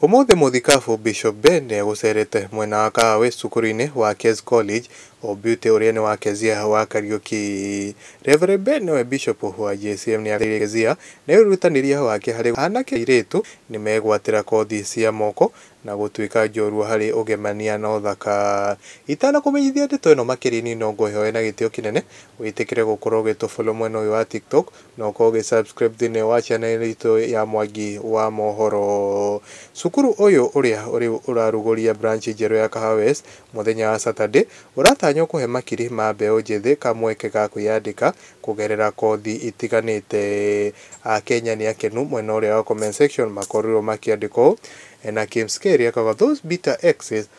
Ũmũthĩ mũthikabu Bishop Ben nĩegũcerete mwena wa Kahawe cukuru-inĩ wa Kes College o Beauty ũrĩa nĩ wa Kezia wa Kariuki. Rev Ben nĩwe Bishop wa JCM nĩagereire Kezia nĩ wĩrutanĩria wake harĩ gũteithia anake na airĩtu nĩmegwatĩra kothi cia moko na gũtuĩka njorua harĩ ũgemania na ũthaka. Itanakũmenyithia ndeto ĩno makĩria nĩ nongũhoe na gĩtĩo kĩnene wĩtĩkĩre gũkorwo ũgĩtũfollow mwena ũyũ wa TikTok Na ũkorwo ũgĩ subscribe thĩinĩ wa channel ĩno itũ ya Mwangi wa Mohoro. Cukuru ũyũ ũrĩa rĩu ũrarugũria branch njerũ ya Kahawa West mũthenya wa Saturday, ũratanywo kũhe makiri ma mbeũ njĩthĩ kamweke ga kwĩyandĩka kũgerera kothi itiganĩte. Akenya nĩ akenu mwena ũrĩa wa comment section makorirwo makĩandĩka ũũ, Ena Kim's K rĩekaga those bitter exes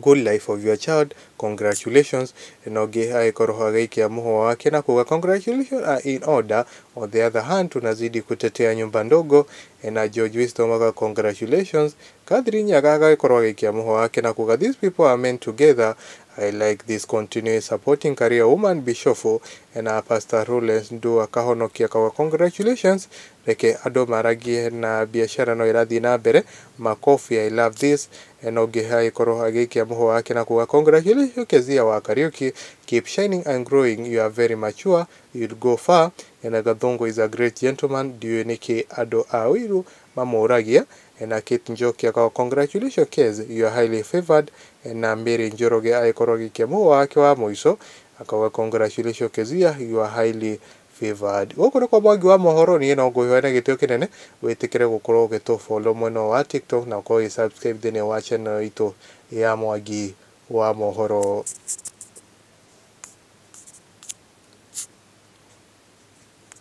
Good life of your child, congratulations, na ũngĩ agĩkorwo agĩikia mũhũa wake na kuga congratulations are in order. On the other hand, tunazidi kutetea nyumba ndogo, na George Wisdom aga congratulations. Catherine Nyaga agagĩkorwo agĩikia mũhũa wake na kuga these people are men together, I like this, continue supporting career woman Bishofu, na Pastor Rulens Ndu akahonokia akauga congratulations, reke andũ maragie na biacara no ĩrathiĩ na mbere, makobi I love this, He na ũngĩ agĩkorwo agĩikia mũhũa wake na kuga Congratulations you Kezia wa Kariuki, keep shining and growing, you are very mature, you'll go far, ena Gathũngũ is a great gentleman, ndiũĩ nĩkĩ andũ a ũiru mamũũragia, ena Kate Njoki akaga Congratulations Kez, you are highly favoured, ena Mary Njoroge agĩkorwo agĩikia mũhũa wake wa mũico akauga Congratulations Kezia, you are highly Favored. Gũkũ nĩkuo Mwangi wa mohoro, niĩ no ngũhe na gĩtĩo kĩnene, wĩtĩkĩre gũkorwo ũgĩtũ follow mwena ũyũ wa TikTok na ũkorwo ũgĩ subscribe thĩinĩ wa channel ĩyo itũ ya Mwangi wa mohoro.